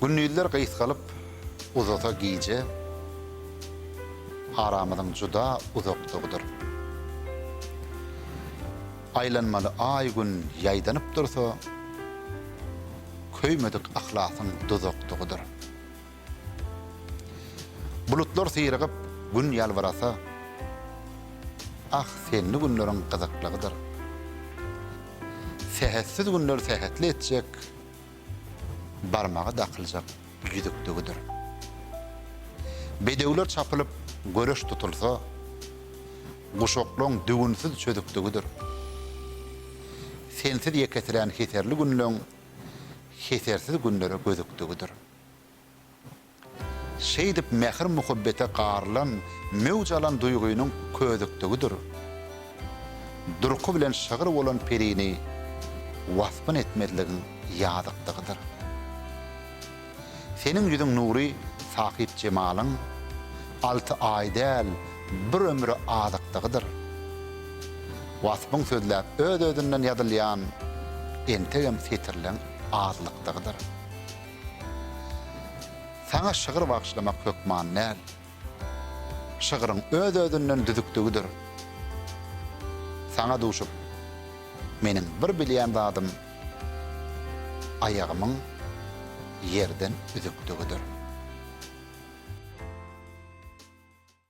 Gündizler gysgalyp uzasa gije, aramyzyň juda uzakdygydyr. Aýlanmaly Aý-Gün ýaýdanyp dursa, köýmedik yhlasyň duzakdygydyr. Bulutlar syrygyp, Gün ýalbyrasa, Ah, senli günleriň gyzyklygydyr. Sähetsiz günler sähetli etjek, Barmaga dakyljak ýüzükligidir. Bedewler çapylyp, göreş tutulsa, Guşaklaň düwünsiz çözükligidir. Sensiz ýeketirän heserli günleň Hesersiz günlere gözükligidir. Şeýdip mähir-muhabbete garylan, möwj alan duýgynyň ködükdigidir durky bilen şygyr bolan perini waspyn etmezligiň ýazykdygydyr. Seniň ýüzüň nury sahyp jemalyň, alty aý däl, bir ömre azykdygydyr. Waspyň sözläp öz-özünden ýazylýan entegem setirleň azlykdygydyr. Saňa şygyr bagyşlamak hökman däl. Şygryň öz-özünden düzükligidir. Saňa duşup, meniň bir bilýän zadym aýagymyň ýerden üzükligidir.